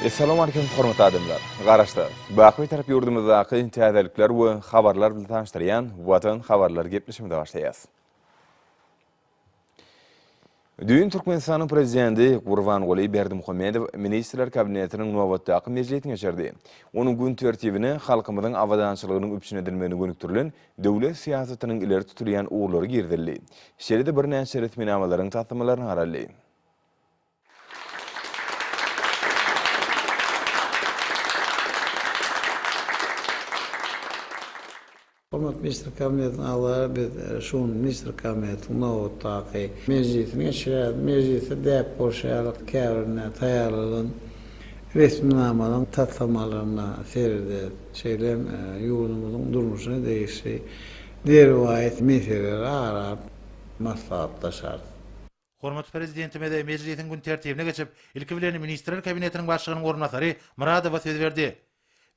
Essalamu Aleýkum hormatly adamlar! Garaşsyz, baky Bitarap ýurdumyzdaky täzelikler we habarlar bilen tanyşdyrýan Watan habarlary gepleşigimize başlaýarys. Düýn Türkmenistanyň Prezidenti Gurbanguly Berdimuhamedow Ministrler Kabinetiniň nobatdaky mejlisini geçirdi. Onuň gün tertibine halkymyzyň abadançylygynyň üpjün edilmegine gönükdirilen döwlet syýasatynyň ileri tutulýan ugurlary girizildi. Şeýle-de birnäçe resminamalaryň taslamalaryna garaldy. Hormatly Ministrler Kabinetiniň agzalary biz şu gün Ministrler Kabinetiniň nobatdaky mejlisini geçirýäris. Mejlisde däp bolşy ýaly käbirine taýýarlanan resminamalaryň taslamalaryna seredýäris. Şeýle hem ýurdumyzyň durmuşyna degişli derwaýys meseleleri ara alyp maslahatlaşarys. Hormatly Prezidentimiz mejlisiň gün tertibine geçip, ilki bilen Ministrler Kabinetiniň Başlygynyň orunbasary Myradowa söz berdi.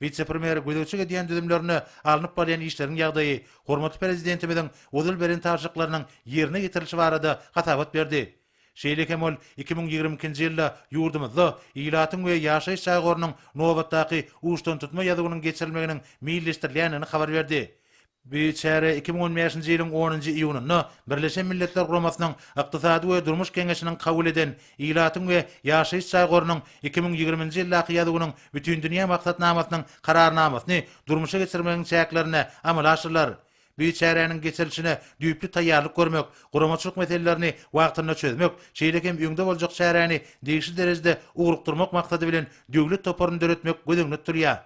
Wise-premýer gözegçilik edýän düzümlerinde alnyp barylýan işleriň ýagdaýy, hormatly Prezidentimiziň ozal beren tabşyryklarynyň ýerine ýetirilişi barada hasabat berdi. Şeýle hem ol iki müň ýigrimi ikinji ýylda ýurdumyzda ilatyň we ýaşaýyş jaý gorunyň nobatdaky uçdantutma ýazuwynyň geçirilmeginiň meýilleşdirilýändigini habar berdi. Bu çäre iki müň on bäşinji ýylyň onunjy iýunynda Birleşen Milletler Guramasynyň Ykdysady we durmuş geňeşiniň kabul eden Ilatyň we ýaşaýyş jaý gorunyň iki müň ýigriminji ýyldaky ýazuwynyň Bütindünýä maksatnamasynyň Kararnamasyny durmuşa geçirmegiň çäklerinde amala aşyrylar. Bu çäräniň geçirilişine düýpli taýýarlyk görmek, guramaçylyk meselelerini wagtynda çözmek, şeýle hem öňde boljak çäräni degişli derejede ugrukdyrmak maksady bilen döwlet toparyny döretmek göz öňünde tutulýar.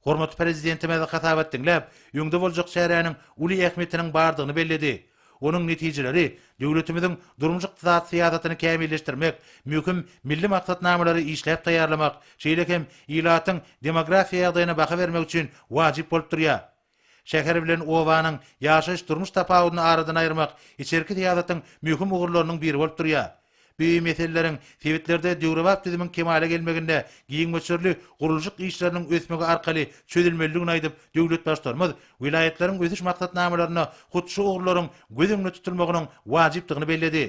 Hormatly Prezidentimiz hasabat diňläp, öňde boljak çäräniň uly ähmiýetiniň bardygyny belledi. Onuň netijeleri döwletimiziň durmuş-ykdysady syýasatyny kämilleşdirmek, möhüm milli maksatnamalary işläp taýýarlamak, şeýle hem ilatyň demografiýa ýagdaýyna baha bermek üçin wajyp bolup durýar. Şäher bilen obanyň ýaşaýyş-durmuş tapawudyny aradan aýyrmak içerki syýasatyň möhüm ugurlarynyň biri bolup durýar. Bu meseleleriň sebitlerde döwrebap düzümiň kemala gelmeginde giň möçberli gurluşyk işleriniň ösmegi arkaly çözülmelidigini aýdyp, döwlet Baştutanymyz welaýatlaryň ösüş maksatnamalarynda hut şu ugurlaryň göz öňünde tutulmagynyň wajypdygyny belledi.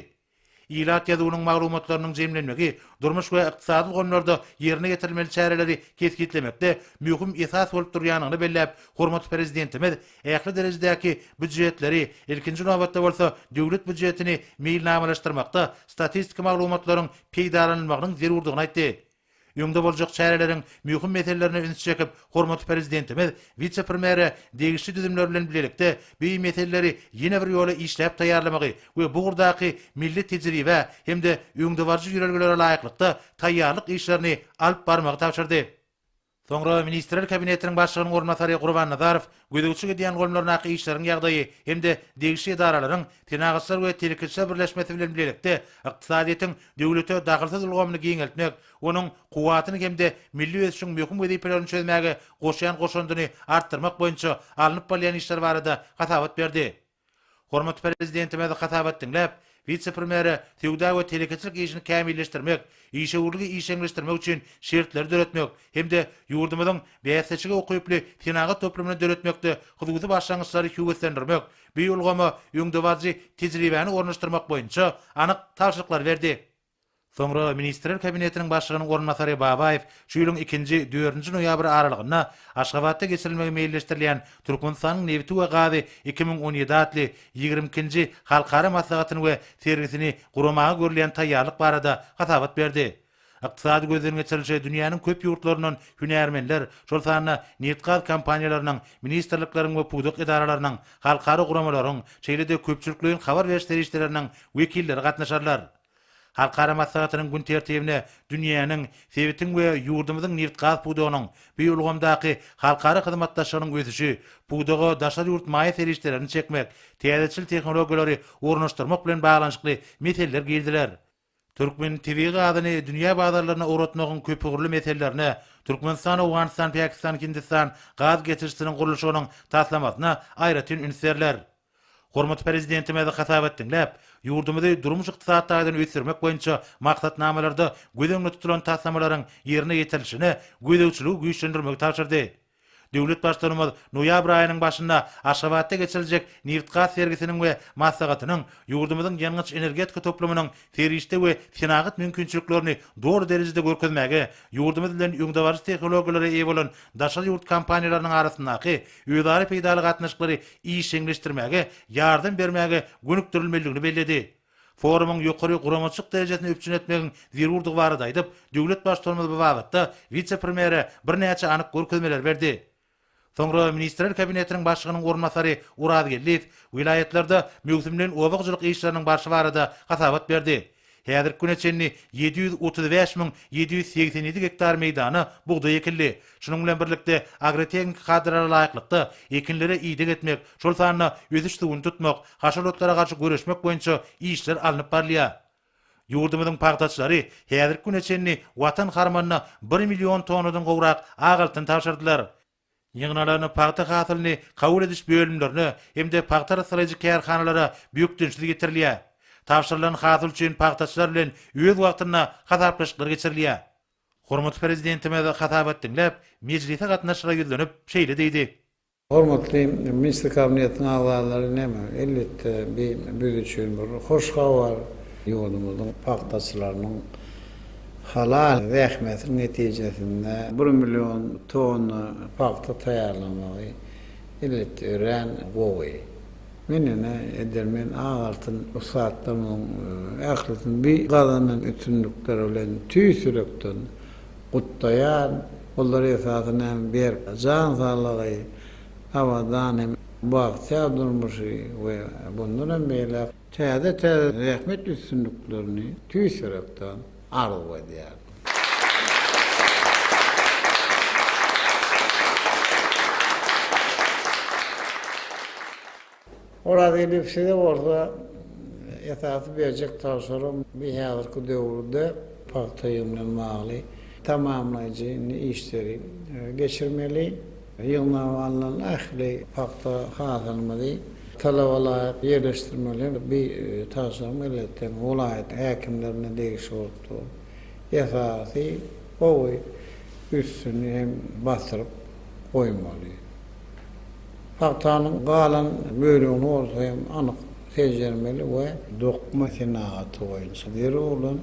Ilat ýazuwynyň maglumatlarynyň jemlenmegi durmuş we ykdysady ulgamlarda ýerine ýetirilmeli çäreleri kesgitlemekde möhüm esas bolup durýandygyny belläp, hormatly Prezidentimiz ähli derejedäki býujetleri, ilkinji nobatda bolsa, Döwlet býujetini meýilnamalaşdyrmakda statistiki maglumatlaryň peýdalanylmagynyň zerurdygyny aýtdy. öňde boljak çäreleriň möhüm meselelerine üns çekip, hormatly Prezidentimiz wise-premere degişli düzümler bilen bilelikde bu meseleleri ýene bir ýola işläp taýýarlamagy we bu ugurdaky milli tejribä hem-de öňdebaryjy ýörelgelere laýyklykda taýýarlyk işlerini alyp barmagy tabşyrdy. Soňra Ministrler Kabinetiniň Başlygynyň orunbasary Gurban Nazarow gözegçilik edýän goýumlaryndaky işleriň ýagdaýy hem-de degişli edaralaryň Senagatçylar we telekeçiler birleşmesi bilen bilelikde ykdysadyýetiň döwlete dagylsyz ulgamyny giňeltmek, onuň kuwwatyny hem-de milli ösüşiň möhüm wezipelerini çözmäge goşýan goşandyny artdyrmak boýunça alnyp barylýan işler barada hasabat berdi. Hormatly Prezidentimiz hasabat diňläp, wise-premýere söwda we telekeçilik işini kämilleşdirmek, işewürligi işjeňleşdirmek üçin şertleri döretmek hem-de ýurdumyzyň bäsleşige ukyply senagat toplumyny döretmekde hususy başlangyçlary höweslendirmek, bu ulgama öňdebaryjy tejribäni ornaşdyrmak boýunça anyk tabşyryklary berdi. Soňra Ministrler Kabinetiniň Başlygynyň orunbasary Babaýew şu ýylyň ikinji, dördünji noýabry aralygynda Aşgabatda geçirilmegi meýilleşdirilýän Türkmenistanyň nebiti we gazy iki müň on ýedi atly ýigrimi ikinji halkara maslahatyny we sergisini guramaga görülýän taýýarlyk barada hasabat berdi. Ykdysady gözden geçirilişe dünýäniň köp ýurtlaryndan hünärmenler, şol sanda nebit-gaz kompaniýalarynyň, ministrlikleriň we pudak edaralarynyň, halkara guramalaryň, şeýle-de köpçülikleýin habar beriş serişdeleriniň wekilleri gatnaşarlar. Halkara maslahatynyň gün tertibine dünýäniň, sebitiň we ýurdumyzyň nebit-gaz pudagynyň, bu ulgamdaky halkara hyzmatdaşlygynyň ösüşi, pudaga daşary ýurt maýa serişdelerini çekmek, täzeçil tehnologiýalary ornaşdyrmak bilen baglanyşykly meseleler girdiler. Türkmen tebigy gazyny dünýä bazarlaryna ugratmagyň köpugurly meselelerine, Türkmenistan-Owganystan-Pakistan-Hindistan gaz geçirijisiniň gurluşygynyň taslamasyna aýratyn üns berler. Hormatly Prezidentimiz hasabat diňläp, ýurdumyzy durmuş-ykdysady taýdan ösdürmek boýunça maksatnamalarda göz öňünde tutulan taslamalaryň ýerine ýetirilişine gözegçiligi güýçlendirmegi tabşyrdy. Döwlet Baştutanymyz noýabr aýynyň başynda Aşgabatda geçiriljek nebit-gaz sergisiniň we maslahatynyň ýurdumyzyň ýangyç-energetika toplumynyň serişde we senagat mümkinçiliklerini doly derejede görkezmäge, ýurdumyz bilen öňdebaryjy tehnologiýalara eýe bolan daşary ýurt kompaniýalarynyň arasyndaky özara peýdaly gatnaşyklary işjeňleşdirmäge ýardam bermäge gönükdirilmelidigini belledi. Forumyň ýokary guramaçylyk derejesini üpjün etmegiň zerurdygy barada aýdyp, döwlet Baştutanymyz bu babatda wise-premýere birnäçe anyk görkezmeleri berdi. Soňra Ministrler Kabinetiniň Başlygynyň orunbasary Oraz Geldiýew welaýatlarda möwsümleýin oba hojalyk işleriniň barşy barada hasabat berdi. Häzirki güne çenli ýedi ýüz otuz bäş müň ýedi ýüz segsen ýedi gektar meýdana bugdaý ekildi. Şunuň bilen birlikde, agrotehniki kadalara laýyklykda, ekinlere ideg etmek, şol sanda ösüş suwuny tutmak, haşal otlara garşy göreşmek boýunça işler alnyp barylýar. Ýurdumyzyň pagtaçylary häzirki güne çenli Watan harmanyna bir million tonnadan gowrak ak altyn tabşyrdylar. Ýygnalan pagta hasylyny kabul ediş bölümlerine hem-de pagta arassalaýjy kärhanalara bökdençsiz getirilýär. Tabşyrylan hasyl üçin pagtaçylar bilen öz wagtynda hasaplaşyklar geçirilýär. Hormatly Prezidentimiz hasabat diňläp, mejlise gatnaşyjylara ýüzlenip, şeýle diýdi. Hormatly Ministr Kabinetiniň agzalary, näme, elbetde, bi biz üçin bir hoş habar. Ýurdumyzyň pagtaçylarynyň Halal zähmetiň netijesinde bir million tonna pagta taýýarlamagy, elbetde, örän gowy. Men ine, edermen ak altyn ussatlarymyzyň ählisini bu gazanan üstünlikleri bilen tüýs ýürekden gutlaýan. Olar, esasan hem, berk jan saglygy, abadan hem bagtyýar durmuşy we bundan hem beýläk. Täze-täze zähmet üstünliklerini tüýs ýürekden arzuw edýärin. Orazgeldiýew size bolsa esasy berjek tabşyrygym bu häzirki döwürde pagta bilen bagly tamamlaýjy işleri geçirmeli. Ýygnap alnan ähli pagta hasylymyzy talaba laýyk ýerleşdirmeli. Bu tabşyryk Milletden welaýat häkimlerine degişli bolup dur. Esasy gowy üstüni hem basyryp goýmaly. Pagtanyň galan bölegini bolsa hem anyk seljermeli we. Dokma senagaty boýunça zerur bolan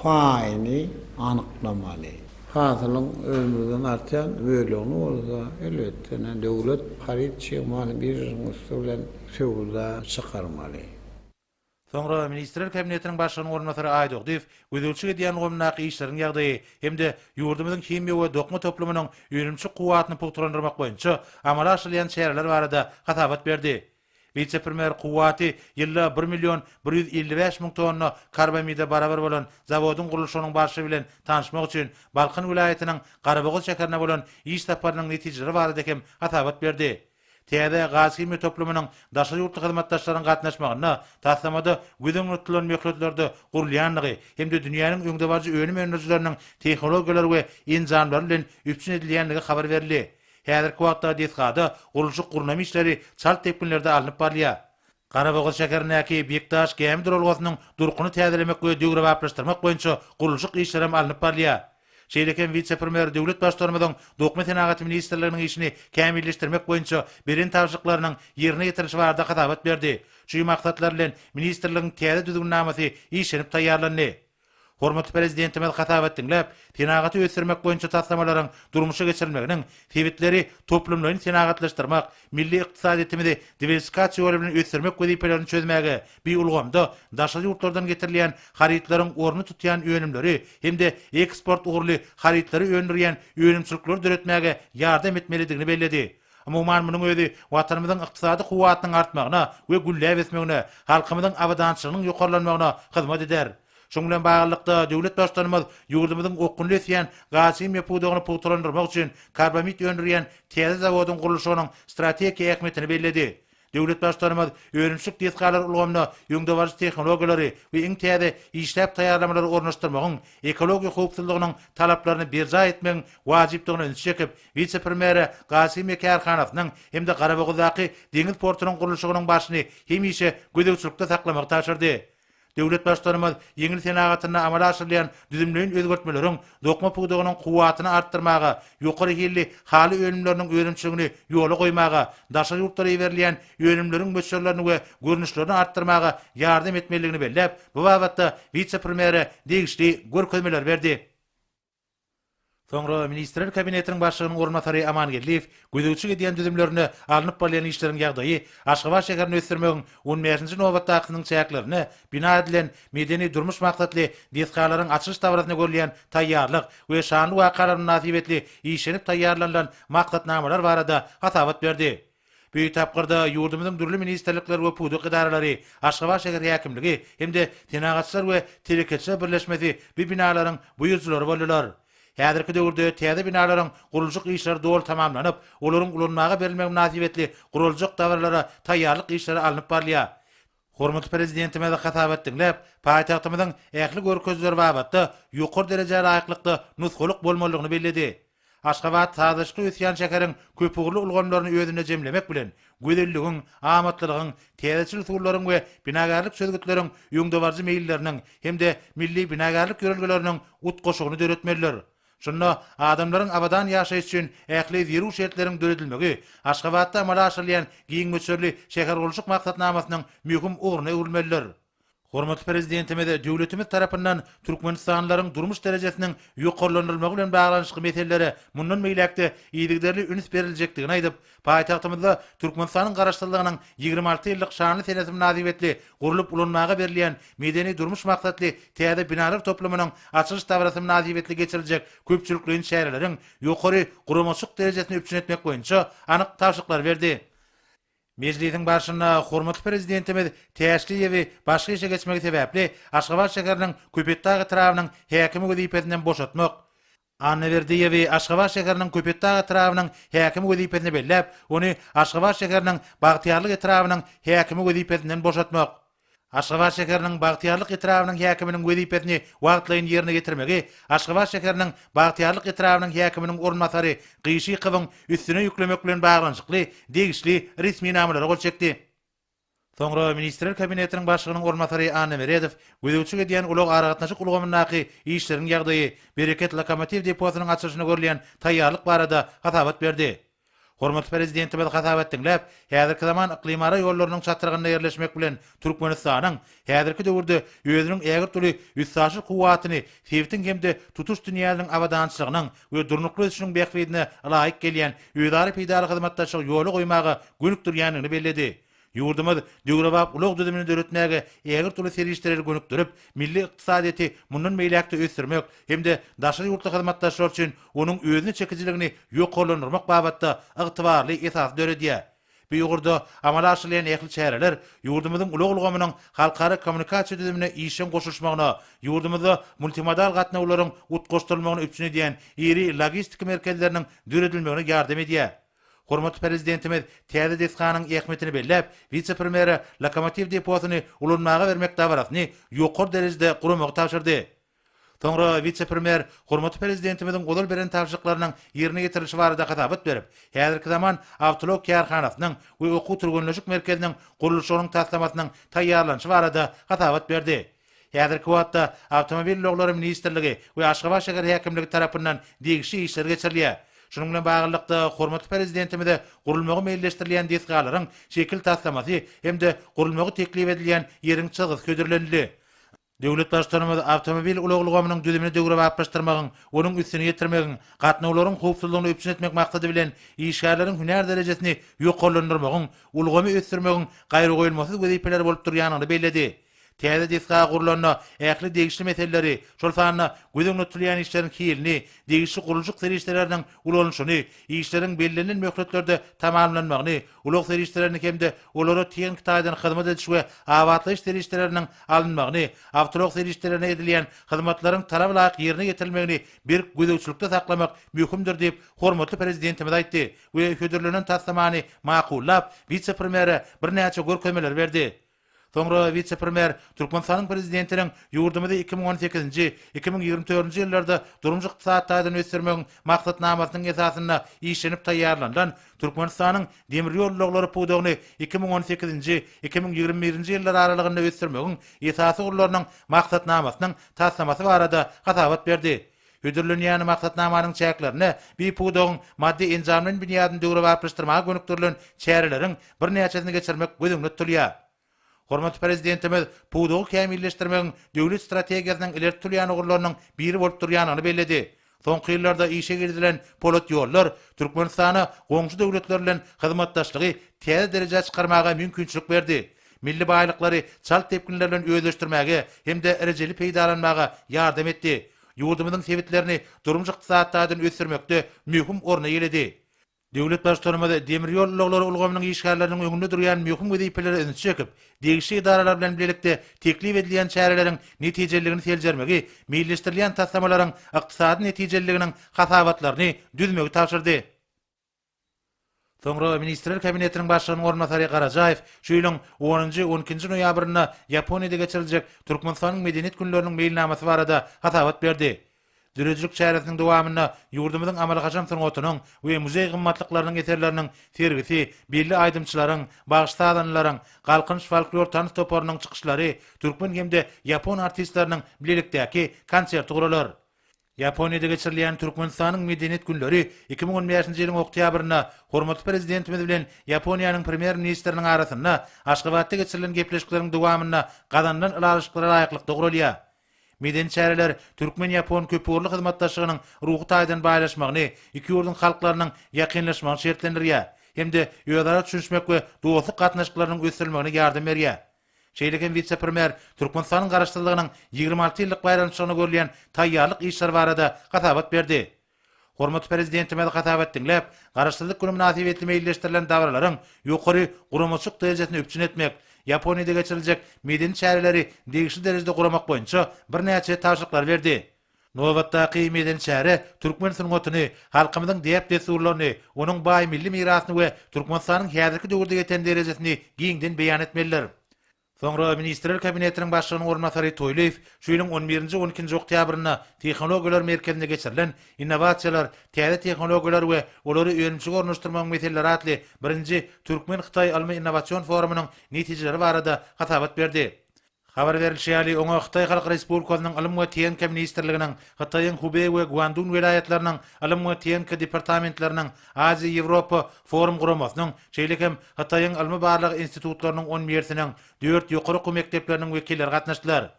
paýyny anyklamaly. Hasylyň özümizden artýan bölegini bolsa, elbetde, döwlet haryt çigmalyny biržanyň üsti bilen söwda çykarmaly. Soňra Ministrler Kabinetiniň Başlygynyň orunbasary Aýdogdyýew gözegçilik edýän ulgamyndaky işleriň ýagdaýy hem-de ýurdumyzyň himiýa we dokma toplumynyň önümçi kuwwatyny pugtalandyrmak boýunça amala aşyrylýan çäreler barada hasabat berdi. Wise-premýer kuwwaty ýylda bir million bir ýüz elli bäş müň tonna karbamide barabar bolan zawodyň gurluşygynyň barşy bilen tanyşmak üçin Balkan welaýatynyň Garabogaz şäherine bolan iş saparynyň netijeleri barada hem hasabat berdi. Täze gazhimiýa toplumynyň daşary ýurtly hyzmatdaşlaryň gatnaşmagynda taslamada göz öňünde tutulan möhletlerde gurulýandygy hem-de dünýäniň öňdebaryjy önüm öndürijileriniň tehnologiýalary we enjamlary bilen üpjün edilýändigi habar berildi. Häzirki wagtda desgada gurluşyk-gurnama işleri çalt depginlerde alnyp barylýar. Garabogaz şäherindäki Bekdaş gämi duralgasynyň durkuny täzelemek we döwrebaplaşdyrmak boýunça gurluşyk işleri hem alnyp barylýar. Şeýle hem wise-premýer döwlet Baştutanymyzyň Dokma senagaty ministrliginiň işini kämilleşdirmek boýunça beren tabşyryklarynyň ýerine ýetirilişi barada hasabat berdi. Çü maksatlar bilen ministrligiň täze düzgünnamasy işlenip taýýarlandy. Hormatly Prezidentimiz hasabat diňläp, senagaty ösdürmek boýunça taslamalaryň durmuşa geçirilmeginiň sebitleri toplumlaýyn senagatlaşdyrmak, milli ykdysadyýetimizi diwersifikasiýa ýoly bilen ösdürmek wezipelerini çözmäge, bi ulgamda daşary ýurtlardan getirilýän harytlaryň ornuny tutýan önümleri hem-de eksport ugurly harytlary öndürýän önümçilikleri döretmäge ýardam etmelidigini belledi. Umuman, munuň özi Watanymyzyň ykdysady kuwwatynyň artmagyna we gülläp ösmegine, halkymyzyň abadançylygynyň ýokarlanmagyna hyzmat eder. Şunuň bilen baglylykda, döwlet Baştutanymyz ýurdumyzyň okgunly ösýän gazhimiýa pudagyny pugtalandyrmak üçin karbamid öndürýän täze zawodyň gurluşygynyň strategik ähmiýetini belledi. Döwlet Baştutanymyz önümçilik desgalary ulgamyna öňdebaryjy tehnologiýalary we iň täze işläp taýýarlamalary ornaşdyrmagyň ekologiýa howpsuzlygynyň talaplaryny berjaý etmegiň wajypdygyna ünsi çekip, wise-premýere Gasymiýa kärhanasynyň hem-de Garabogazdaky deňiz portunyň gurluşygynyň başyny hemişe gözegçilikde saklamagy tabşyrdy. Döwlet Baştutanymyz ýeňil senagatynda amala aşyrylýan düzümleýin özgertmeleriň dokma pudagynyň kuwwatyny artdyrmaga, ýokary hilli haly önümleriniň önümçiligini ýola goýmaga, daşary ýurtlara iberilýän önümleriň möçberlerini we görnüşlerini artdyrmaga ýardam etmelidigini belläp, bu babatda wise-premýere degişli görkezmeleri berdi. Soňra Ministrler Kabinetiniň Başlygynyň orunbasary Amangeldiýew gözegçilik edýän düzümlerinde alnyp barylýan işleriň ýagdaýy, Aşgabat şäherini ösdürmegiň on bäşinji nobatdakysynyň çäklerinde bina edilen medeni-durmuş maksatly desgalaryň açylyş dabarasyna görülýän taýýarlyk we şanly wakalar mynasybetli işlenip taýýarlanylan maksatnamalar barada hasabat berdi. Bu tapgyrda ýurdumyzyň dürli ministrlikler we pudak edaralary, Aşgabat şäher häkimligi hem-de Senagatçylar we telekeçiler birleşmesi bu binalaryň buýrujylary boldular. Häzirki döwürde täze binalaryň gurluşyk işleri doly tamamlanyp, olaryň ulanmaga berilmegi mynasybetli guraljak dabaralara taýýarlyk işleri alnyp barylýar. Hormatly Prezidentimizi hasap et diňläp, paýtagtymyzyň ähli görkezijileri babatda ýokary derejä laýyklykda nusgalyk bolmalydygyny belledi. Aşgabat sazlaşykly ösýän şäheriň köpugurly ulgamlaryny özünde jemlemek bilen, gözelligiň, amatlylygyň, täzeçil usullaryň we binagärlik çözgütleriň öňdebaryjy meýilleriniň hem-de milli binagärlik ýörelgeleriniň utgaşygyny döretmelidir. Şunda adamlaryň abadan ýaşaýyş üçin ähli zerur şertleriň döredilmegi Aşgabatda amala aşyrylýan giň möçberli şähergurluşyk maksatnamasynyň möhüm ugruna öwrülmelidir. Hormatly Prezidentimiz döwletimiz tarapyndan türkmenistanlylaryň durmuş derejesiniň ýokarlandyrylmagy bilen baglanyşykly meselelere mundan beýläk-de yzygiderli üns beriljekdigini aýdyp, Paýtagtymyzda Türkmenistanyň Garaşsyzlygynyň ýigrimi alty ýyllyk şanly senesi mynasybetli gurlup ulanmaga berlýän medeni-durmuş maksatly täze binalar toplumynyň açylyş dabarasy mynasybetli geçiriljek köpçülikleýin çäreleriň ýokary guramaçyk derejesini üpjün etmek boýunça anyk tabşyryklary berdi. Mejlisiň barşynda hormatly Prezidentimiz Täşli YEW-i başga işe geçmegi sebäpli Aşgabat şäheriniň Köpetdag etrabynyň häkimi wezipesinden boşatmak, Anna Berdiýewi Aşgabat şäheriniň Köpetdag etrabynyň häkimi wezipesine belläp, ony Aşgabat şäheriniň Bagtyýarlyk etrabynyň häkimi wezipesinden boşatmak. Aşgabat şäheriniň Bagtyýarlyk etrabynyň häkiminiň wezipesini wagtlaýyn ýerine ýetirmegi Aşgabat şäheriniň Bagtyýarlyk etrabynyň häkiminiň orunbasary Gyşykowyň üstüne ýüklemek bilen baglanyşykly degişli resminamalary gol çekdi. Soňra Ministrler Kabinetiniň Başlygynyň orunbasary Anna Meredow gözegçilik edýän ulag-aragatnaşyk ulgamyndaky işleriň ýagdaýy, Bereket lokomotiw deposynyň açylyşyna görülýän taýýarlyk barada hasabat berdi. Hormatly Prezidentimiz hasabat diňläp, häzirki zaman yklymara ýollarynyň çatrygynda ýerleşmek bilen Türkmenistanyň häzirki döwürde özüniň ägirt uly üstaşyr kuwwatyny sebitiň hem-de tutuş dünýäniň abadançylygynyň we durnukly ösüşiň bähbidine laýyk gelýän özara peýdaly hyzmatdaşlygy ýola goýmaga gönükdirýändigini belledi. Ýurdumyz döwrebap ulag düzümini döretmäge ägirt uly serişdeleri gönükdirip, milli ykdysadyýeti mundan beýläk-de ösdürmek hem-de daşary ýurtly hyzmatdaşlar üçin onuň özüne çekijiligini ýokarlandyrmak babatda ygtybarly esasy döredýär. Bu ugurda amala aşyrylýan ähli çäreler ýurdumyzyň ulag ulgamynyň halkara kommunikasiýa düzümine işjeň goşulyşmagyna, ýurdumyzda multimodal gatnawlaryň utgaşdyrylmagyny üpjün edýän iri logistika merkezleriniň döredilmegine ýardam edýär. Hormatly Prezidentimiz täze desganyň ähmiýetini belläp, wise-premýere lokomotiw deposyny ulanmaga bermek dabarasyny ýokary derejede guramagy tabşyrdy. Soňra wise-premýer hormatly Prezidentimiziň ozal beren tabşyryklarynyň ýerine ýetirilişi barada hasabat berip, häzirki zaman awtoulag kärhanasynyň we okuw-türgenleşik merkeziniň gurluşygynyň taslamasynyň taýýarlanyşy barada hasabat berdi. Häzirki wagtda Awtomobil ulaglary ministrligi we Aşgabat şäher häkimligi tarapyndan degişli işler geçirilýär. Şunuň bilen baglylykda, hormatly Prezidentimize gurulmagy meýilleşdirilýän desgalaryň şekil taslamasy hem-de gurulmagy teklip edilýän ýeriň çyzgysy hödürlenildi. Döwlet Baştutanymyz awtomobil ulag ulgamynyň düzümini döwrebaplaşdyrmagyň, onuň üstüni ýetirmegiň, gatnawlaryň howpsuzlygyny üpjün etmek maksady bilen, işgärleriň hünär derejesini ýokarlandyrmagyň, ulgamy ösdürmegiň gaýragoýulmasyz wezipeleri bolup durýandygyny belledi. Täze desga gurlanda, ähli degişli meseleleri, şol sanda göz öňünde tutulýan işleriň hilini, degişli gurluşyk serişdeleriniň ulanyşyny, işleriň bellenilen möhletlerde tamamlanmagyny, ulag serişdelerini hem-de olara tehniki taýdan hyzmat ediş we abatlaýyş serişdeleriniň alynmagyny, awtoulag serişdelerine edilýän hyzmatlaryň talaba laýyk ýerine ýetirilmegini berk gözegçilikde saklamak möhümdir diýip, hormatly Prezidentimiz aýtdy we hödürlenen taslamany makullap, wise-premýere birnäçe görkezmeleri berdi. Soňra wise-premýer Türkmenistanyň Prezidentiniň ýurdumyzy iki müň on sekizinji, iki müň ýigrimi dördünji ýyllarda durmuş-ykdysady taýdan ösdürmegiň maksatnamasynyň esasynda işlenip taýýarlanylan Türkmenistanyň demir ýol ulaglary pudagyny iki müň on sekizinji, iki müň ýigrimi birinji ýyllar aralygynda ösdürmegiň esasy ugurlarynyň maksatnamasynyň taslamasy barada hasabat berdi. Hödürlenýän maksatnamanyň çäklerinde bi pudagyň maddy-enjamlaýyn binýadyny döwrebaplaşdyrmaga gönükdirilen çäreleriň birnäçesini geçirmek göz öňünde tutulýar. Hormatly Prezidentimiz pudagy kämilleşdirmegiň döwlet strategiýasynyň ileri tutulýan ugurlarynyň biri bolup durýandygyny belledi. Soňky ýyllarda işe girizilen polat ýollar Türkmenistana goňşy döwletler bilen hyzmatdaşlygy täze derejä çykarmaga mümkinçilik berdi. milli baýlyklary çalt depginler bilen özleşdirmäge hem-de rejeli peýdalanmaga ýardam etdi, ýurdumyzyň sebitlerini durmuş-ykdysady taýdan ösdürmekde möhüm orny eýeledi. Döwlet Baştutanymyz demir ýol ulaglary ulgamynyň işgärleriniň öňünde durýan möhüm wezipelere ünsi çekip, degişli edaralar bilen bilelikde teklip edilýän çäreleriň netijeliligini seljermegi, meýilleşdirilýän taslamalaryň ykdysady netijeliliginiň hasabatlaryny düzmegi tabşyrdy. Soňra Ministrler Kabinetiniň Başlygynyň orunbasary Garajaýew şu ýylyň onunjy, on ikinji noýabrynda Ýaponiýada geçiriljek Türkmenistanyň Medeniýet günleriniň meýilnamasy barada hasabat berdi. Döredijilik çäresiniň dowamynda ýurdumyzyň amaly-haşam sungatynyň we muzeý gymmatlyklarynyň eserleriniň sergisi, belli aýdymçylaryň, bagşy-sazandalaryň, Galkynyş folklor tans toparynyň çykyşlary, türkmen hem-de ýapon artistleriniň bilelikdäki konserti guralar. Ýaponiýada geçirilýän Türkmenistanyň Medeniýet günleri iki müň on bäşinji ýylyň oktýabrynda hormatly Prezidentimiz bilen Ýaponiýanyň Premýer-ministriniň arasynda Aşgabatda geçirilen gepleşikleriň dowamynda gazanylan ylalaşyklara laýyklykda guralýar. Medeni çäreler türkmen-ýapon köpugurly hyzmatdaşlygynyň ruhy taýdan baýlaşmagyny, iki ýurduň halklarynyň ýakynlaşmagyny şertlendirýär hem-de özara düşünişmek we dostluk gatnaşyklarynyň ösdürilmegine ýardam berýär. Şeýle hem wise-premýer Türkmenistanyň Garaşsyzlygynyň ýigrimi alty ýyllyk baýramçylygyna görülýän taýýarlyk işleri barada hasabat berdi. Hormatly Prezidentimiz hasabat diňläp, Garaşsyzlyk güni mynasybetli meýilleşdirilen dabaralaryň ýokary guramaçylyk derejesini üpjün etmek, Ýaponiýada geçiriljek medeni çäreleri degişli derejede guramak boýunça birnäçe tabşyryklary berdi. Nobatdaky medeni çäre türkmen sungatyny, halkymyzyň däp-dessurlaryny, onuň baý milli mirasyny we Türkmenistanyň häzirki döwürde ýeten derejesini giňden beýan etmelidir. Soňra Ministrler Kabinetiniň Başlygynyň orunbasary Toýlyýew şu ýylyň on birinji, on ikinji oktýabrynda Tehnologiýalar merkezinde geçirilen Innowasiýalar, täze tehnologiýalar we olary önümçilige ornaşdyrmagyň meseleleri atly birinji Türkmen-hytaý ylmy-innowasion forumynyň netijeleri barada hasabat berdi. Habar berlişi ýaly, oňa Hytaý Halk Respublikasynyň Ylym we TNK ministrliginiň, Hytaýyň Hubei we Guandun welaýatlarynyň Ylym we TNK departamentleriniň, Aziýa-Ýewropa forum guramasynyň, şeýle hem Hytaýyň ylmy-barlag institutlarynyň on birsiniň, dört ýokary okuw mekdepleriniň wekilleri gatnaşdylar.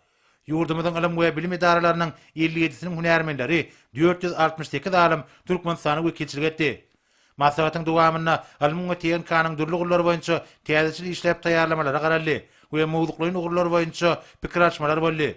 Ýurdumyzyň ylym we bilim edaralarynyň elli ýedisiniň hünärmenleri, dört ýüz altmyş sekiz alym Türkmenistana wekilçilik etdi. Maslahatyň dowamynda ylmyň we TNK-nyň dürli ugurlary boýunça täzeçil işläp taýýarlamalara garaldy we mowzuklaýyn ugurlar boýunça pikir alyşmalar boldy.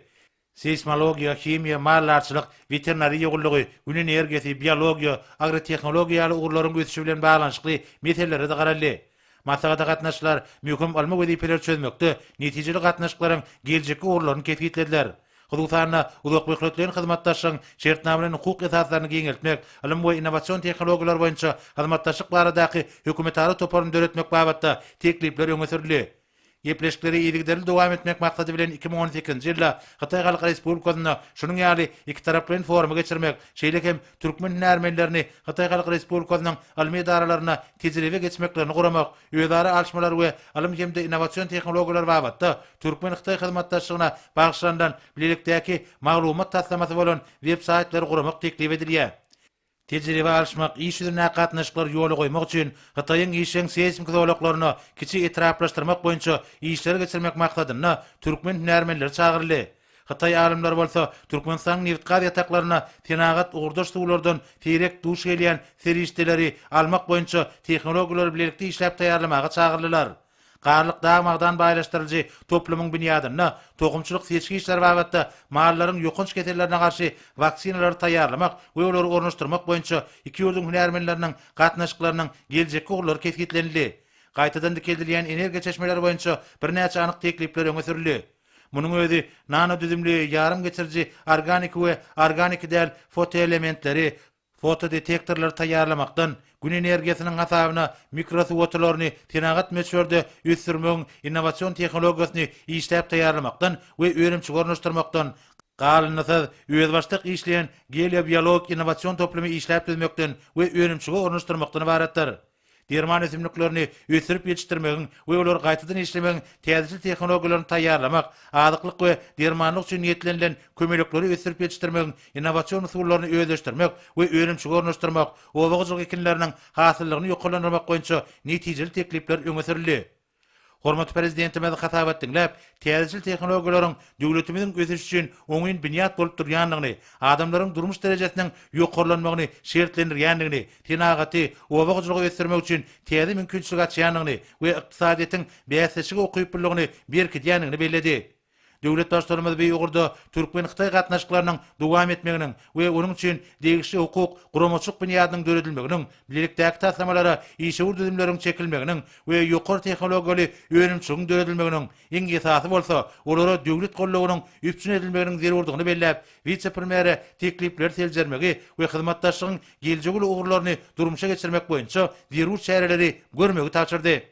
Seýsmologiýa, himiýa, maldarçylyk, weterinariýa gullugy, Gün energiýasy, biologiýa, agrotehnologiýa ýaly ugurlaryň ösüşi bilen baglanyşykly meselelere-de garaldy. Maslahata gatnaşyjylar möhüm ylmy wezipeleri çözmekde netijeli gatnaşyklaryň geljekki ugurlaryny kesgitlediler. Hususan-da, uzakmöhletleýin hyzmatdaşlygyň şertnamalaýyn-hukuk esaslaryny giňeltmek, ylym we innowasion tehnologiýalar boýunça hyzmatdaşlyk baradaky hökümetara toparyny döretmek babatda teklipler öňe sürüldi. Gepleşikleri yzygiderli dowam etmek maksady bilen iki müň on sekizinji ýylda Hytaý Halk Respublikasynda şunuň ýaly ikitaraplaýyn forumy geçirmek, şeýle hem türkmen hünärmenlerini Hytaý Halk Respublikasynyň ylmy edaralaryna tejribe geçmeklerini guramak, özara alşmalar we ylym hem-de innowasion tehnologiýalar babatda türkmen-hytaý hyzmatdaşlygyna bagyşlanylan bilelikdäki maglumat taslamasy bolan web-saýtlary guramak teklip edilýär. Tejribe alyşmak, iş ýüzündäki gatnaşyklary ýola goýmak üçin Hytaýyň işjeň seýsmiki zolaklaryny kiçi etraplaşdyrmak boýunça işleri geçirmek maksadynda türkmen hünärmenleri çagyryldy. Hytaý alymlary bolsa Türkmenistanyň nebitgaz ýataklaryna senagat ugurdaş suwlardan seýrek duş gelýän serişdeleri almak boýunça tehnologiýalary bilelikde işläp taýýarlamaga çagyrlylar. Garlyk dag-magdan baýlaşdyryljy toplumyň binýadynda tohumçylyk seçgi işleri babatda mallaryň ýokanç kesellerine garşy waksinalary taýýarlamak we olary ornaşdyrmak boýunça iki ýurduň hünärmenleriniň gatnaşyklarynyň geljekki ugurlary kesgitlenildi. Gaýtadan dikeldilýän energiýa çeşmeleri boýunça birnäçe anyk teklipler öňe sürüldi. Munuň özi nanodüzümli ýarym geçiriji organiki we organiki däl fotoelementleri, Fotodetektorlary taýýarlamakdan, Gün energiýasynyň hasabyna mikrosuwotulylaryny senagat möçberde ösdürmegiň innowasion tehnologiýasyny işläp taýýarlamakdan we önümçi ornaşdyrmakdan, galyndysyz, özbaşdak işleýän geliobiologik innowasion toplumy işläp düzmekden we önümçige ornaşdyrmakdan ybaratdyr. Derman ösümliklerini ösdürip ýetişdirmegiň we olary gaýtadan işlemegiň täzeçil tehnologiýalaryny taýýarlamak, azyklyk we dermanlyk üçin niýetlenilen kömelekleri ösdürip ýetişdirmegiň innowasion usullaryny özleşdirmek we önümçige ornaşdyrmak, oba hojalyk ekinleriniň hasyllygyny ýokarlandyrmak boýunça netijeli teklipler öňe sürüldi. Hormatly Prezidentimiz hasabat diňläp, täzeçil tehnologiýalaryň döwletimiziň ösüşi üçin oňyn binýat bolup durýandygyny, adamlaryň durmuş derejesiniň ýokarlanmagyny şertlendirýändigini, senagaty, oba hojalygy ösdürmek üçin täze mümkinçilik açýandygyny we ykdysadyýetiň bäsdeşlige ukyplylygyny berkidýändigini belledi. Döwlet Baştutanymyz bu ugurda türkmen-hytaý gatnaşyklarynyň dowam etmeginiň we onuň üçin degişli hukuk, guramaçylyk binýadynyň döredilmeginiň, bilelikdäki taslamalara işewür düzümleriň çekilmeginiň we ýokary tehnologiýaly önümçiligiň döredilmeginiň, iň esasy bolsa, olara döwlet goldawynyň üpjün edilmeginiň zerurdygyny belläp, wise-premýere teklipleri seljermegi we hyzmatdaşlygyň geljegi uly ugurlaryny durmuşa geçirmek boýunça zerur çäreleri görmegi tabşyrdy.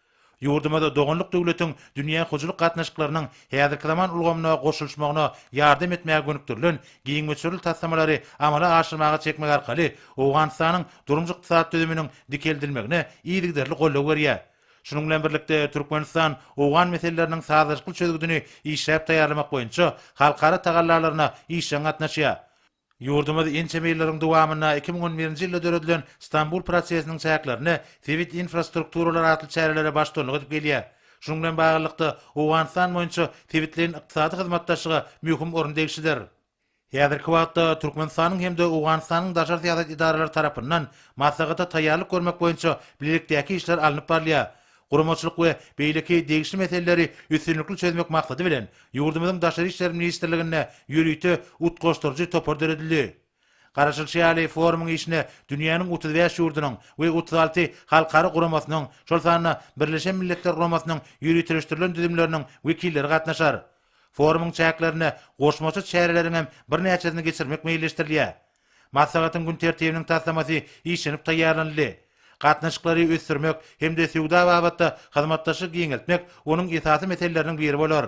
Ýurdumyzda doganlyk döwletiň dünýä hojalyk gatnaşyklarynyň häzirki zaman ulgamyna goşulyşmagyna ýardam etmäge gönükdirilen giň möçberli taslamalary amala aşyrmaga çekmek arkaly Owganystanyň durmuş-ykdysady düzüminiň dikeldilmegine yzygiderli goldaw berýär. Şunuň bilen birlikde, Türkmenistan owgan meseleleriniň sazlaşykly çözgüdini işläp taýýarlamak boýunça halkara tagallalaryna işjeň gatnaşýar. Ýurdumyz ençeme ýyllaryň dowamynda iki müň on birinji ýylda döredilen Stambul prosesiniň çäklerinde sebit infrastrukturalary atly çärelere baştutanlyk edip gelýär. Şunuň bilen baglylykda, Owganystan boýunça sebitleýin ykdysady hyzmatdaşlyga möhüm orun degişlidir. Häzirki wagtda Türkmenistanyň hem-de Owganystanyň daşary syýasat edaralary tarapyndan maslahata taýýarlyk görmek boýunça bilelikdäki işler alnyp barylýar. guramaçylyk we beýleki degişli meseleleri üstünlikli çözmek maksady bilen, ýurdumyzyň Daşary işler ministrliginde ýörite utgaşdyryjy topar döredildi. Garaşylyşy ýaly, forumyň işine dünýäniň otuz bäş ýurdunyň we otuz alty halkara guramasynyň, şol sanda Birleşen Milletler Guramasynyň ýöriteleşdirilen düzümleriniň wekilleri gatnaşar. Forumyň çäklerinde goşmaça çäreleriň hem birnäçesini geçirmek meýilleşdirilýär. Maslahatyň gün tertibiniň taslamasy işlenip taýýarlanyldy. Gatnaşyklary ösdürmek hem-de söwda babatda hyzmatdaşlygy giňeltmek onuň esasy meseleleriniň biri bolar.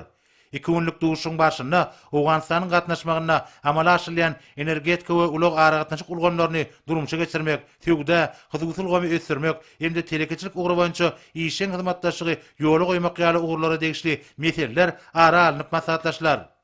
Iki günlük duşuşygyň barşynda Owganystanyň gatnaşmagynda amala aşyrylýan energetika we ulag-aragatnaşyk ulgamlaryny durmuşa geçirmek, söwda, hususy ulgamy ösdürmek hem-de telekeçilik ugry boýunça işjeň hyzmatdaşlygy ýola goýmak ýaly ugurlara degişli meseleler ara alnyp maslahatlaşylar.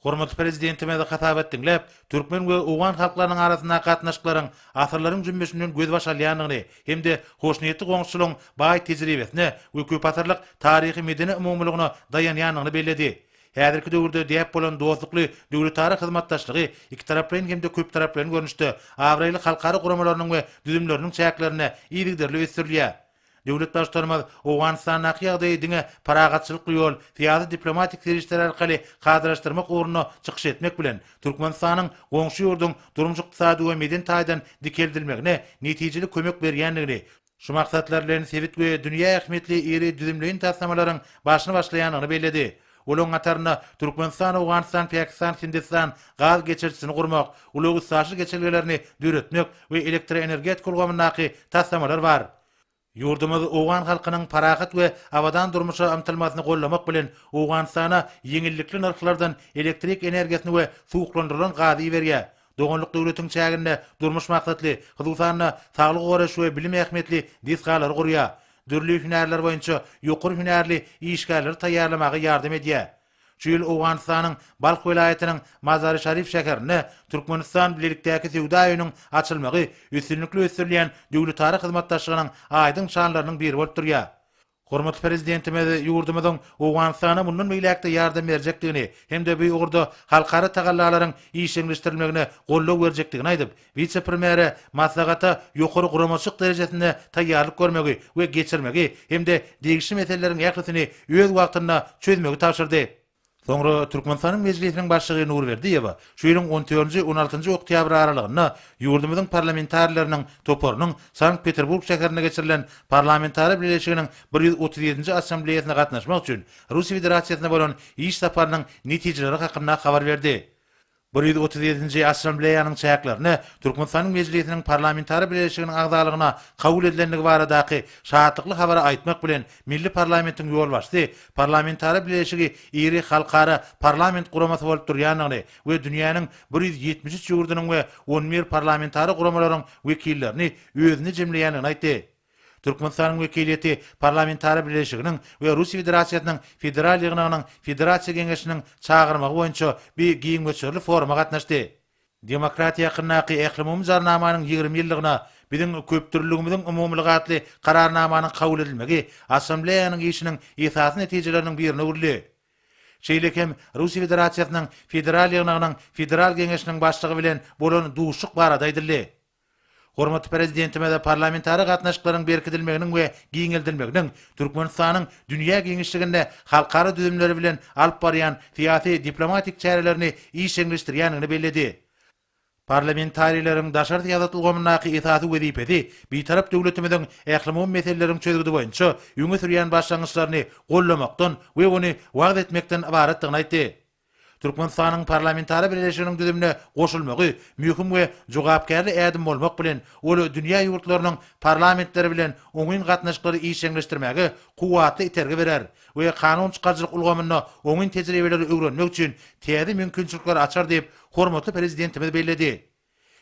Hormatly Prezidentimiz hasabat diňläp, türkmen we owgan halklarynyň arasyndaky gatnaşyklaryň asyrlaryň jümmüşinden gözbaş alýandygyny hem-de hoşniýetli goňşuçylygyň baý tejribesine we köpasyrlyk taryhy-medeni umumylygyna daýanýandygyny belledi. Häzirki döwürde däp bolan dostlukly döwletara hyzmatdaşlygy ikitaraplaýyn hem-de köptaraplaýyn görnüşde abraýly halkara guramalarynyň we düzümleriniň çäklerinde yzygiderli ösdürilýär. Döwlet Baştutanymyz Owganystandaky ýagdaýy diňe parahatçylykly ýol, syýasy-diplomatik serişdeler arkaly kadalaşdyrmak ugrunda çykyş etmek bilen, Türkmenistanyň goňşy ýurduň durmuş-ykdysady we medeni taýdan dikeldilmegine netijeli kömek berýändigini, şu maksatlar bilen sebit we dünýä ähmiýetli iri düzümleýin taslamalaryň başyny başlaýandygyny belledi. Olaryň hatarynda Türkmenistan, Owganystan, Pakistan, Hindistan gaz geçirijisini gurmak, ulag-üstaşyr geçelgelerini döretmek we elektroenergetika ulgamyndaky taslamalar bar. Ýurdumyz owgan halkynyň parahat we abadan durmuşa ymtylmasyny gollamak bilen, Owganystana ýeňillikli nyrhlardan elektrik energiýasyny we suwuklandyrylan gazy iberýär. Doganlyk döwletiň çäginde durmuş maksatly, hususan-da, saglygy goraýyş we bilim ähmiýetli desgalary gurýar. Dürli hünärler boýunça ýokary hünärli işgärleri taýýarlamaga ýardam edýär. Şu ýyl Owganystanyň Balh welaýatynyň Mazari-Şarif şäherinde Türkmenistan-Bilelikdäki söwda öýüniň açylmagy üstünlikli ösdürilýän döwletara hyzmatdaşlygynyň aýdyň şanlarynyň biri bolup durýar. Hormatly Prezidentimiz ýurdumyzyň Owganystana mundan beýläk-de ýardam berjekdigini hem-de bu ugurda halkara tagallalaryň işjeňleşdirilmegine goldaw berjekdigini aýdyp, wise-premýere maslahata ýokary guramaçylyk derejesinde taýýarlyk görmegi we geçirmegi hem-de degişli meseleleriň ählisini öz wagtynda çözmegi tabşyrdy. Soňra Türkmenistanyň Mejlisiniň Başlygy Nurberdiýewa şu ýylyň on dördünji, on altynjy oktýabr aralygynda ýurdumyzyň parlamentarileriniň toparynyň Sankt-Peterburg şäherinde geçirilen Parlamentara Bileleşiginiň bir ýüz otuz ýedinji Assambleýasyna gatnaşmak üçin Russiýa Federasiýasyna bolan iş saparynyň netijeleri hakynda habar berdi. Bir ýüz otuz ýedinji Assambleýanyň çäklerine Türkmenistanyň Mejlisiniň Parlamentara Bileleşiginiň agzalygyna kabul edilendigi baradaky şatlykly habary aýtmak bilen, milli parlamentiň ýolbaşçysy Parlamentara Bileleşigi iri halkara parlament guramasy bolup durýandygyny we dünýäniň bir ýüz ýetmiş üç ýurdunyň we on bir parlamentara guramalaryň wekillerini özünde jemleýändigini aýtdy. Türkmenistanyň wekiliýeti Parlamentara Bileleşiginiň we Russiýa Federasiýasynyň Federal Ýygnagynyň Federasiýa Geňeşiniň çagyrmagy boýunça bi giň möçberli foruma gatnaşdy. Demokratiýa hakyndaky Ählumumy Jarnamanyň ýigrimi ýyllygyna Biziň köpdürlüligimiziň umumylygy atly Kararnamanyň kabul edilmegi Assambleýanyň işiniň esasy netijeleriniň birine öwrüldi. Şeýle hem Russiýa Federasiýasynyň Federal Ýygnagynyň Federal Geňeşiniň Başlygy bilen bolan duşuşyk barada aýdyldy. Hormatly Prezidentimize parlamentara gatnaşyklaryň berkidilmeginiň we giňeldilmeginiň Türkmenistanyň dünýä giňişliginde halkara düzümleri bilen alyp barýan syýasy-diplomatik çärelerini işjeňleşdirýändigini belledi. Parlamentarileriň daşary syýasat ulgamyndaky esasy wezipesi Bitarap döwletimiziň ählumumy meseleleriň çözgüdi boýunça öňe sürýän başlangyçlaryny gollamakdan we ony wagyz etmekden ybaratdygyny aýtdy. Türkmenistanyň Parlamentara Bileleşiginiň düzümine goşulmagy möhüm we jogapkärli ädim bolmak bilen, ol dünýä ýurtlarynyň parlamentleri bilen oňyn gatnaşyklary işjeňleşdirmäge kuwwatly itergi berer we kanun çykaryjylyk ulgamynda oňyn tejribeleri öwrenmek üçin täze mümkinçilikleri açar diýip, hormatly Prezidentimiz belledi.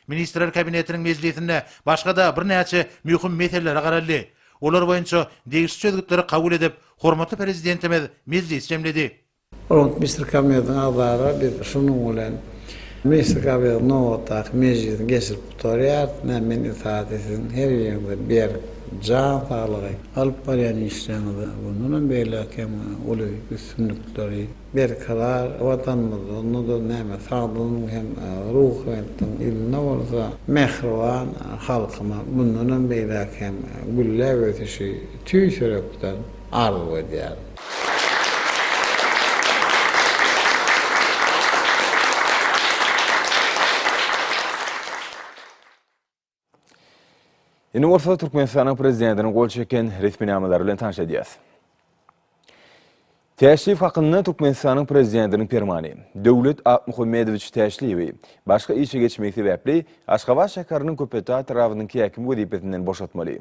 Ministrler Kabinetiniň mejlisinde başga-da birnäçe möhüm meselelere garaldy. Olar boýunça degişli çözgütleri kabul edip, hormatly Prezidentimiz mejlisi jemledi. Hormatly Ministr Kabinetiniň agzalary, biz şunuň bilen Ministr Kabinetiniň nobatdaky mejlisini geçirip gutarýarys. Nä men iltihady siziň her biriňize berk jan saglygy, alyp barýan işleriňizde bundan hem beýläk hem uly üstünlikleri, berkarar Watanymyzda, onda-da näme sagdyn hem ruhubelentligiň ýylynda bolsa, mähriban halkyma mundan hem beýläk hem gülläp ösüşi, tüýs ýürekden, arzuw edýärin. Indi bolsa Türkmenistanyň prezidentiniň gol çeken resminamalary bilen tanyş edýäris. Täşliýew hakynda Türkmenistanyň prezidentiniň permany. Döwlet Akmuhammedowiç Täşliýewi başga işe geçmegi sebäpli Aşgabat şäheriniň Köpetdag etrabynyň häkimi wezipesinden boşatmaly.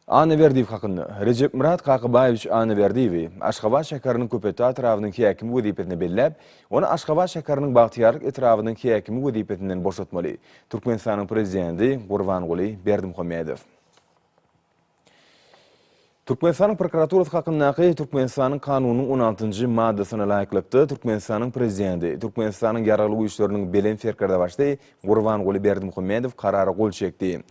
Annaberdiýew hakynda. Rejepmyrat Kakabaýewiç Annaberdiýewi Aşgabat şäheriniň Köpetdag etrabynyň häkimi wezipesine belläp, ony Aşgabat şäheriniň Bagtyýarlyk etrabynyň häkimi wezipesinden boşatmaly, Türkmenistanyň Prezidenti Gurbanguly Berdimuhamedow. Türkmenistanyň prokuraturasy hakyndaky Türkmenistanyň Kanunynyň on altynjy maddasyna laýyklykda, Türkmenistanyň Prezidenti, Türkmenistanyň Ýaragly Güýçleriniň Belent Serkerdebaşy Gurbanguly Berdimuhamedow karara gol çekdi.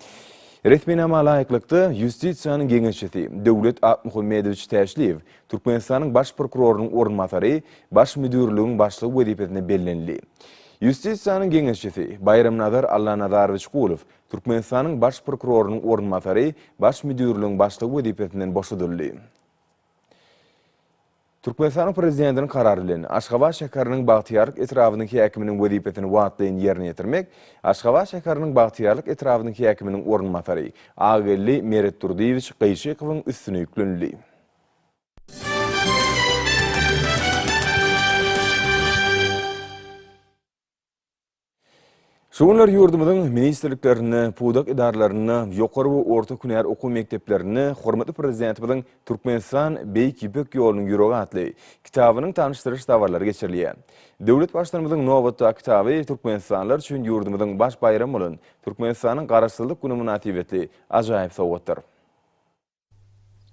Resminama laýyklykda, Ýustisiýanyň geňeşçisi Döwlet Akmuhammedowiç Täşliýew Türkmenistanyň Baş prokurorynyň orunbasary Baş müdirligiň başlygy wezipesine bellenildi. Ýustisiýanyň geňeşçisi Baýramnazar Allanazarowiç Gulow Türkmenistanyň Baş prokurorynyň orunbasary Baş müdirligiň başlygy wezipesinden boşadyldy. Türkmenistanyň Prezidentiniň Karary bilen, Aşgabat şäheriniň Bagtyýarlyk etrabynyň häkiminiň wezipesini wagtlaýyn ýerine ýetirmek Aşgabat şäheriniň Bagtyýarlyk etrabynyň häkiminiň orunbasary Agageldi Meretdurdyýewiç Gaýyşykowyň üstüne ýüklenildi. Şu günler ýurdumyzyň ministrliklerinde, pudak edaralarynda, ýokary we orta hünär okuw mekdeplerinde hormatly Prezidentimiziň Türkmenistan, Beýik Ýüpek ýolunyň ýüregi atly kitabynyň tanyşdyryş dabaralary geçirilýär. Döwlet Baştutanymyzyň nobatdaky kitaby türkmenistanlylar üçin ýurdumyzyň baş baýramy bolan Türkmenistanyň Garaşsyzlyk güni mynasybetli ajaýyp sowgatdyr.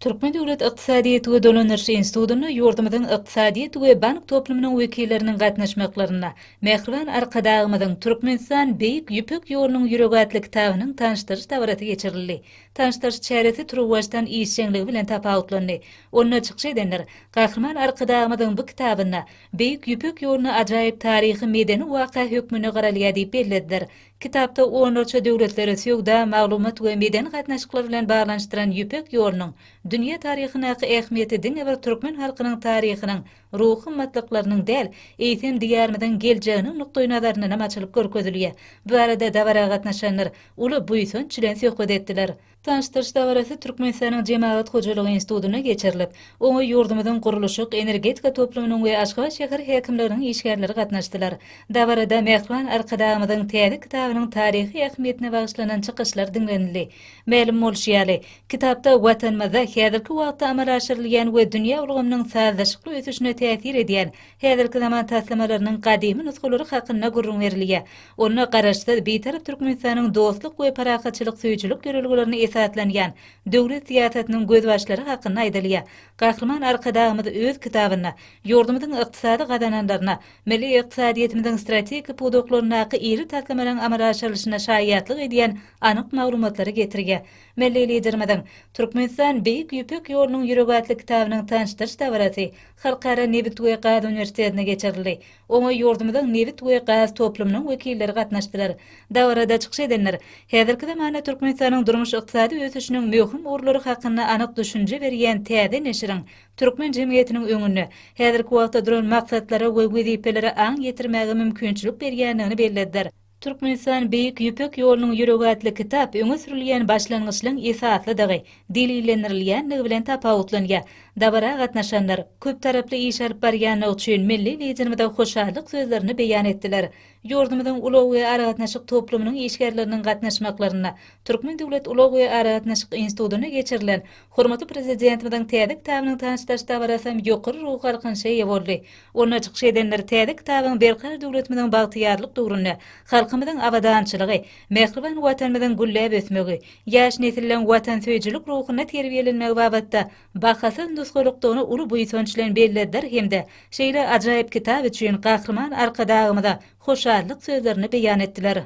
Türkmen döwlet ykdysadyýet we dolandyryş institutynda ýurdumyzyň ykdysadyýet we bank toplumynyň wekilleriniň gatnaşmaklarynda Mähriban Arkadagymyzyň Türkmenistan, Beýik Ýüpek ýolunyň ýüregi atly kitabynyň tanyşdyryş dabarasy geçirildi. Tanyşdyryş çäresi turuwbaşdan işjeňligi bilen tapawutlandy. Onda çykyş edenler Gahryman Arkadagymyzyň bu kitabynda Beýik Ýüpek ýoluna ajaýyp taryhy-medeni waka hökmünde garalýar diýip bellediler. Kitapda onlarça döwletleri söwda, maglumat we medeni gatnaşyklar bilen baglanyşdyran Ýüpek ýolunyň dünýä taryhyndaky ähmiýeti diňe bir türkmen halkynyň taryhynyň, ruhy gymmatlyklarynyň däl, eýsem, Diýarymyzyň geljeginiň nukdaýnazaryndanam açylyp görkezilýär. Bu barada dabara gatnaşanlar uly buýsanç bilen söhbet etdiler. Tanyşdyryş dabarasy Türkmenistanyň Jemagat hojalygy institutynda geçirilip, oňa ýurdumyzyň gurluşyk, energetika toplumynyň we Aşgabat şäher häkimliginiň işgärleri gatnaşdylar. Dabarada Mähriban Arkadagymyzyň täze kitabynyň taryhy ähmiýetine bagyşlanan çykyşlar diňlenildi. Mälim bolşy ýaly, kitapda Watanymyzda häzirki wagtda amala aşyrylýan we dünýä ulgamynyň sazlaşykly ösüşine täsir edýän Häzirki zaman taslamalarynyň gadymy nusgalary hakynda gürrüň berilýär. Onda Garaşsyz, Bitarap Türkmenistanyň dostluk we parahatçylyk söýüjilik ýörelgelerine esaslanýan döwlet syýasatynyň gözbaşlary hakynda aýdylýar. Gahryman Arkadagymyz öz kitabynda ýurdumyzyň ykdysady gazananlaryna, milli ykdysadyýetimiziň strategik pudaklaryndaky iri taslamalaryň amala aşyrylyşyna şaýatlyk edýän anyk maglumatlary getirýär. Milli Liderimiziň Türkmenistan, Beýik Ýüpek ýolunyň ýüregi atly kitabynyň tanyşdyryş dabarasy Halkara nebit we gaz uniwersitetine geçirildi. Oňa ýurdumyzyň nebit we gaz toplumynyň wekilleri gatnaşdylar. Dabarada çykyş edenler häzirki zamanda Türkmenistanyň durmuş-ykdysady ösüşiniň möhüm ugurlary hakynda anyk düşünje berýän täze neşiriň türkmen jemgyýetiniň öňünde häzirki wagtda duran maksatlara we wezipelere aň ýetirmäge mümkinçilik berýändigini bellediler. Türkmenistan Beýik Ýüpek ýolunyň ýüregi atly kitap öňe sürülýän başlangyçlaryň esaslydygy, delillendirilýändigi bilen tapawutlanýar. Dabara gatnaşanlar, köptaraply iş alyp barýandygy üçin milli Liderimize hoşallyk sözlerini beýan etdiler. Ýurdumyzyň ulag we aragatnaşyk toplumynyň işgärleriniň gatnaşmaklarynda Türkmen döwlet ulag we aragatnaşyk institutynda geçirilen hormatly Prezidentimiziň täze kitabynyň tanyşdyryş dabarasy hem ýokary ruhy galkynyşa eýe boldy. Onda çykyş edenler täze kitabyň berkarar döwletimiziň bagtyýarlyk döwründe halkymyzyň abadançylygy, mähriban Watanymyzyň gülläp ösmegi, ýaş nesilleriň watansöýüjilik ruhunda terbiýelenmegi babatda bahasyz nusgalykdygyny uly buýsanç bilen bellediler hem-de şeýle ajaýyp kitap üçin Gahryman Arkadagymyza hoşallyk sözlerini beýan etdiler.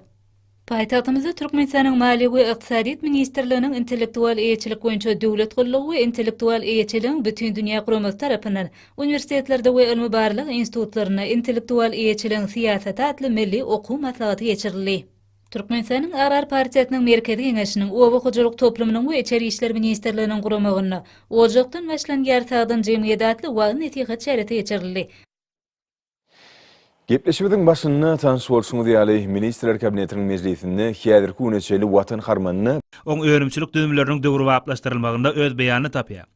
Paýtagtymyzda Türkmenistanyň Maliýe we ykdysadyýet ministrliginiň Intellektual eýeçilik boýunça döwlet gullugy we Intellektual eýeçiligiň bütindünýä guramasy tarapyndan uniwersitetlerde we ylmy-barlag institutlarynda intellektual eýeçiligiň syýasaty atly milli okuw maslahaty geçirildi. Türkmenistanyň Agrar partiýasynyň Merkezi Geňeşiniň, Oba hojalyk toplumynyň we Içeri işler ministrliginiň guramagynda Ojakdan başlanýar sagdyn jemgyýet atly wagyz-nesihat çäresi geçirildi. Gepleşigimiziň başynda tanyş bolşuňyz ýaly, Ministrler Kabinetiniň mejlisinde häzirki güne çenli Watan harmanyny, oň önümçilik düzümleriniň döwrebaplaşdyrylmagynda öz beýanyny tapýar.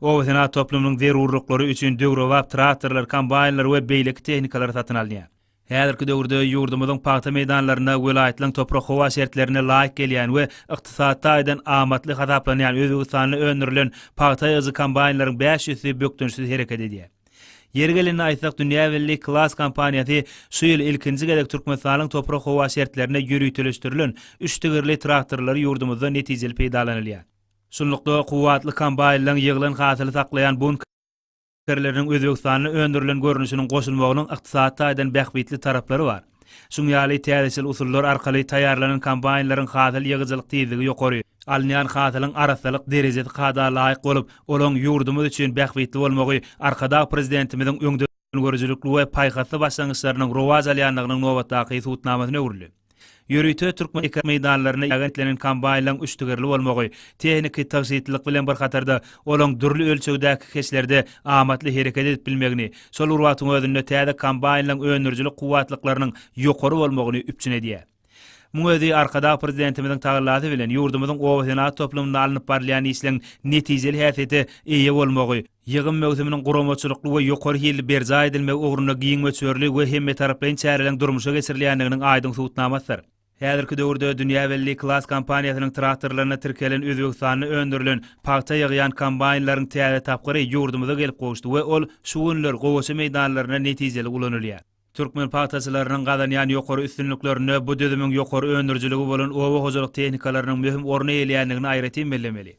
Obasenagat toplumynyň zerurlyklary üçin döwrebap traktorlar, kombaýnlar we beýleki tehnikalar satyn alynýar. Häzirki döwürde ýurdumyzyň pagta meýdanlarynda welaýatlaryň toprak-howa şertlerine laýyk gelýän we ykdysady taýdan amatly hasaplanýan özbegistanly öndürilen pagta ýygyjy kombaýnlaryň bäş ýüzüsi bökdençsiz hereket edýär. Ýeri gelende aýtsak, dünýä belli Klass kompaniýasy şu ýyl ilkinji gezek Türkmenistanyň toprak-howa şertlerine ýöriteleşdirilen üç tigirli traktorlary ýurdumyzda netijeli peýdalanylýar. Şunlukda, kuwwatly kombaýnlaryň ýyglan hasyly saklaýan bunk erleriniň Özbegistanda öndürilen görnüşiniň goşulmagynyň ykdysady taýdan bähbitli taraplary bar. Şuň ýaly täzeçil usullar arkaly taýýarlanan kombaýnlaryň hasyl ýygyjylyk tizligi ýokary, alynýan hasylyň arassalyk derejesi kada laýyk bolup, olaň ýurdumyz üçin bähbitli bolmagy Arkadag Prezidentimiziň öňdengörüjilikli we paýhasly başlangyçlarynyň rowaç alýandygynyň nobatdaky subutnamasyna öwrüldi. Ýörite türkmen eken meýdanlarynda ýagentlenen kombaýnlaryň üçtügerli bolmagy, tehniki tygşytlylyk bilen bir hatarda, olaň dürli ölçegdäki keşlerde amatly hereket edip bilmegini, Şol bir wagtyň özünde täze kombaýnlaryň öndürijilik kuwwatlyklarynyň ýokary bolmagyny üpjün edýär. Muň özi Arkadag Prezidentimiziň tagallasy bilen ýurdumyzyň obasenagat toplumynda alnyp barylýan işleň netijeli häsiýete eýe bolmagy, ýygym möwsüminiň guramaçylykly we ýokary hilli berjaý edilmegi ugrunda giň möçberli we hemmetaraplaýyn çäreleriň durmuşa geçirilýändiginiň aýdyň subutnamasydyr. Häzirki döwürde dünýä belli Klas kompaniýasynyň traktorlaryna tirkelen Özbegistanda öndürilen pagta ýygýan kombaýnlaryň täze tapgyry ýurdumyza gelip gowuşdy we ol şu günler gowaça meýdanlarynda netijeli ulanylýar. Türkmen pagtaçylarynyň gazanýan ýokary üstünliklerinde bu düzümiň ýokary öndürijiligi bolan oba hojalyk tehnikalarynyň möhüm orun eýeleýändigini aýratyn bellemeli.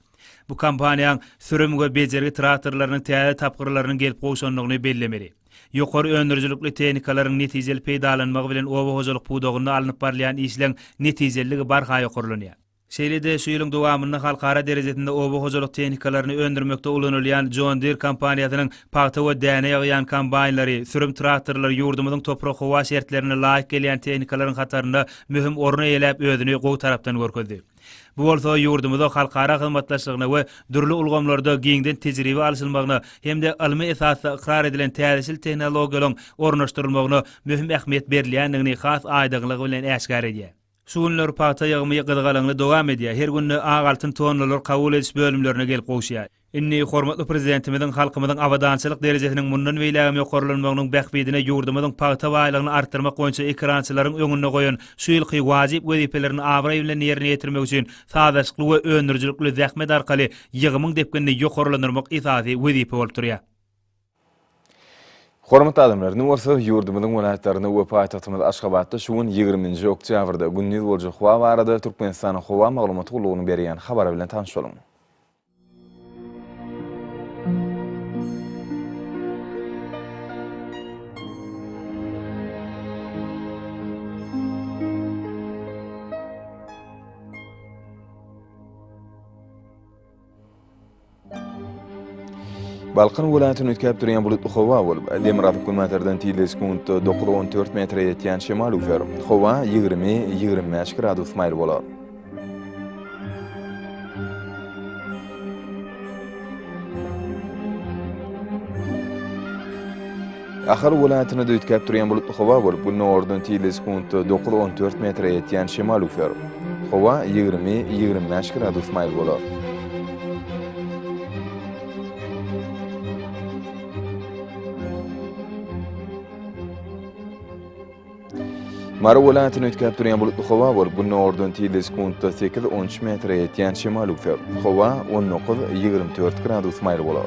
Bu kompaniýaň sürüm we bejergi traktorlarynyň täze tapgyrlarynyň gelip gowşandygyny bellemeli. Ýokary öndürijilikli tehnikalaryň netijeli peýdalanmagy bilen oba hojalyk pudagynda alnyp barylýan işleň netijeliligi barha ýokarlanýar. Şeýle-de, şu ýylyň dowamynda halkara derejesinde oba hojalyk tehnikalaryny öndürmekde ulanylýan John Deere kompaniýasynyň pagta we däne ýygýan kombaýnlary, sürüm traktorlary ýurdumyzyň toprak-howa şertlerine laýyk gelýän tehnikalaryň hatarynda möhüm orun eýeläp özüni gowy tarapdan görkezdi. Bu bolsa ýurdumyzda halkara hyzmatdaşlygyna we dürli ulgamlarda giňden tejribe alşylmagyna hem-de ylmy esasda ykrar edilen täzeçil tehnologiýalaryň ornaşdyrylmagyna möhüm ähmiýet berilýändigini has aýdyňlygy bilen äşgär edýär. Şu günler pagta ýygymy gyzgalaňly dowam edýär, her günde ak altyn tonnalar kabul ediş bölümlerine gelip gowuşýar. Indi hormatly Prezidentimiziň halkymyzyň abadançylyk derejesiniň mundan beýlägem ýokarlanmagynyň bähbidine ýurdumyzyň pagta baýlygyny artdyrmak boýunça ekerançylaryň öňünde goýan şu ýylky wajyp wezipelerini abraý bilen ýerine ýetirmek üçin sazlaşykly we öndürijilikli zähmet arkaly ýygymyň depginini ýokarlandyrmak esasy wezipe bolup durýar. Hormatly adamlar, indi bolsa ýurdumyzyň welaýatlarynda we paýtagtymyz Aşgabatda şu gün ýigriminji oktýabrda gündiz boljak howa barada Türkmenistanyň Howa maglumat gullugynyň berýän habary bilen tanyşalyň. Balkan welaýatyny üýtgäp durýan bulutly howa bolup, demirgazyk günbatardan tizligi sekuntda dokuz-on dört metre ýetýän şemal üwser. Howa ýigrimi, ýigrimi bäş gradus maýyl bolar. Ahal welaýatynda düýtgäp durýan bulutly howa bolup, gündogardan tizligi sekuntda dokuz on dört metre ýetýän şemal üflär. Howa ýigrimi, ýigrimi bäş gradus maýyl bolar. Mary welaýatyny üýtgäp durýan bulutly howa bolup, gündogardan tizligi sekuntda sekiz, on üç metre ýetýän şemal üwser. Howa on dokuz, ýigrimi dört gradus maýyl bolar.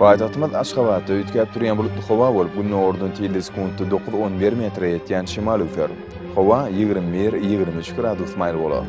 Paýtagtymyz Aşgabatda üýtgäp durýan bulutly howa bolup, gündogardan tilde sekuntda dokuz-on bir metre ýetýän şemal öwser. Howa ýigrimi bir-ýigrimi üç gradus maýyl bolar.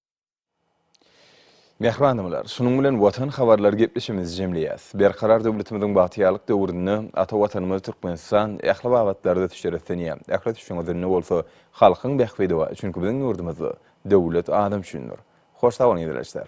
Mähribanymlar, şunuň bilen Watan habarlary gepleşigimizi jemleýäs. Berkarar döwletimiziň bagtyýarlyk döwründe ata Watanymyz Türkmenistan ähli babatlarda ösüş öretlenýär. Ähli ösüşiň özünde bolsa halkyň bähbidi bar, çünki biziň ýurdumyzda Döwlet adam üçindir. Hoş sag boluň izleýjiler.